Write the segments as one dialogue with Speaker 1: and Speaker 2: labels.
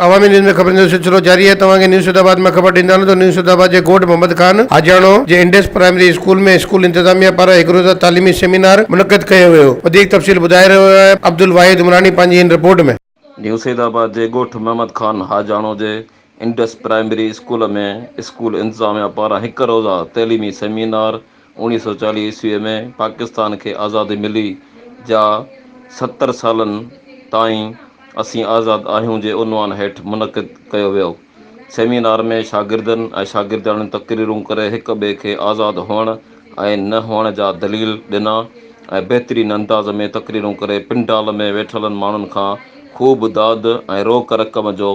Speaker 1: Awami news ۾ خبرن جو سلسلو جاري آهي توهان کي نيو سيد آباد مان خبر ڏيندالون ته نيو سيد آباد جي ڳوٺ محمد خان آجياڻو جي انڊس پرائمري اسڪول ۾ اسڪول انتظاميه پاران هڪ روزه تعليمي سيمينار منعقد ڪيو ويو وڌيڪ تفصيل ٻڌائي رهيو آهي عبدالواحد عمراڻي پنهنجي هن رپورٽ ۾. نيو سيد آباد جي
Speaker 2: ڳوٺ محمد خان حاجاڻو جي انڊس پرائمري اسڪول ۾ اسڪول انتظاميا پاران هڪ روزه تعليمي سيمينار اوڻيهه سؤ چاليهه عيسوي ۾ پاڪستان کي آزادي ملي جا ستر سالن تائين اسين آزاد آهيون جي عنوان هيٺ منعقد ڪيو ويو. سيمينار ۾ شاگردن ۽ شاگردياڻين تقريرون ڪري هڪ ٻئي کي آزاد هئڻ ۽ نه هئڻ جا دليل ڏنا ۽ بهترين انداز ۾ تقريرون ڪري پنڊال ۾ ويٺل ماڻهن کان خوب داد ۽ روڪ رقم جو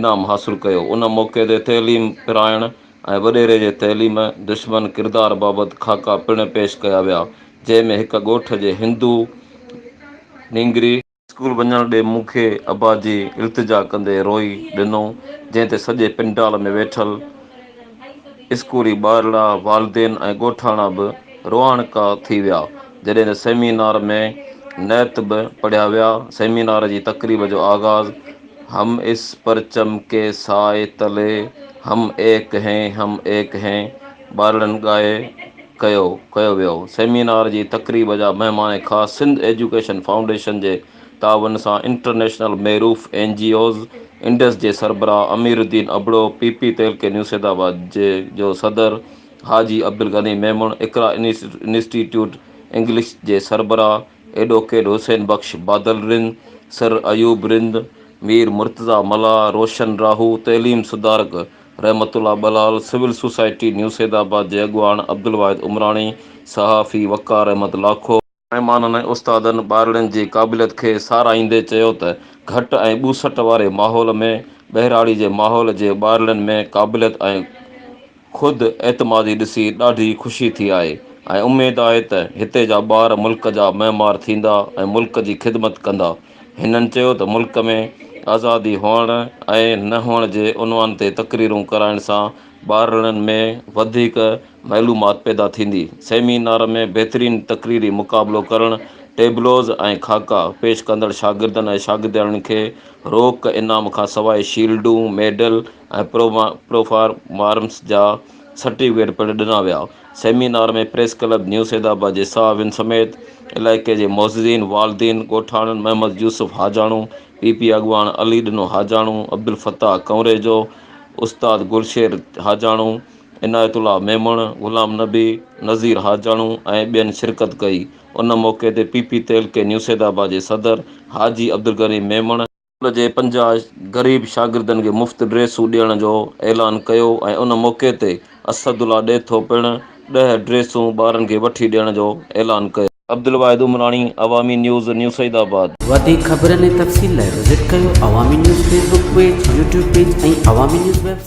Speaker 2: انعام حاصل ڪيو. ان موقعي تي تعليم پرائڻ ۽ وڏيري جي تعليم دشمن ڪردار بابت خاڪا پڻ پيش ڪيا ويا جنهن ۾ هڪ ڳوٺ جي هندو نينگري، اسڪول وڃڻ ڏي مون کي ابا جي التجا ڪندي روئي ڏنو جنهن تي سڄي پنڊال ۾ ويٺل اسڪولي ٻارڙا والدين ۽ ڳوٺاڻا به روئاڻڪا ٿي ويا جڏهن ته سيمينار ۾ نعت به پڙهيا ويا سيمينار جي تقريب جو آغاز هم اس پرچم ڪي سائي تلي هم ايڪ هين هم ايڪ هين ٻارڙن ڳائي ڪيو ڪيو ويو. سيمينار جي تقريب جا مهمان خاص سنڌ ايجوڪيشن فائونڊيشن جي تعاون سان انٽرنيشنل ميروف اين جي اوز انڊس جي سربراهه امير الدين ابڙو، پي پي تيلڪي نيوسيد آباد جي جو صدر Haji Abdul Ghani Memon, Iqra institute English جي سربراهه ايڊوڪيٽ حسين بخش بادل رند، سر ايوب رند، مير مرتضيٰ ملاح، روشن راهو، تعليم سڌارڪ. رحمت الله ٻلال، سول سوسائٽي نيو سيدآباد جي اڳواڻ عبدالواحد عمراڻي، صحافي وقار احمد لاکو، مهمانن ۽ استادن ٻارڙين جي قابليت کي ساراهيندي چيو ته گهٽ ۽ ٻوسٽ واري ماحول ۾ ٻهراڙي جي ماحول جي ٻارڙين ۾ قابليت ۽ خود اعتمادي ڏسي ڏاڍي خوشي ٿي آهي ۽ اميد آهي ته هتي جا ٻار ملڪ جا معمار ٿيندا ۽ ملڪ جي خدمت ڪندا. هنن چيو ته ملڪ ۾ آزادي هئڻ ۽ نه هئڻ جي عنوان تي تقريرون ڪرائڻ سان ٻارڙن ۾ وڌيڪ معلومات پيدا ٿيندي، سيمينار ۾ بهترين تقريري مقابلو ڪرڻ، ٽيبلوز ۽ خاڪا پيش ڪندڙ شاگردن ۽ شاگردياڻين کي روڪ انعام کانسواء شيلڊون، ميڊل، ۽ پروفارمرس جا سرٽيفڪيٽ پڻ ڏنا ويا. سيمينار ۾ پريس ڪلب نيو سيدآباد جي صحافين سميت علائقي جي معززين، والدين، ڳوٺاڻن محمد يوسف حاجاڻو، پي پي اڳواڻ علي ڏنو حاجاڻو، عبدالفتاح ڪنوريجو، استاد گلشير حاجاڻو، عنايت الله ميمڻ، غلام نبي، نذير حاجاڻو ۽ ٻين شرڪت ڪئي. ان موقعي تي پي پي تعلقي نيو سيدآباد جي صدر حاجي عبدالغني ميمڻ، اسڪول جي پنجاهه غريب شاگردن کي مفت ڊريسون ڏيڻ جو اعلان ڪيو ۽ ان موقعي تي اسد الله ڏيٿو پڻ ڏهه ڊريسون ٻارن کي وٺي ڏيڻ جو اعلان ڪيو. Abdul Wahid Umrani, Awami news, new Saeedabad. وڌيڪ خبرن ۽
Speaker 3: تفصيل لاء وزٽ ڪيو Awami news Facebook page, YouTube page ۽ Awami news web site.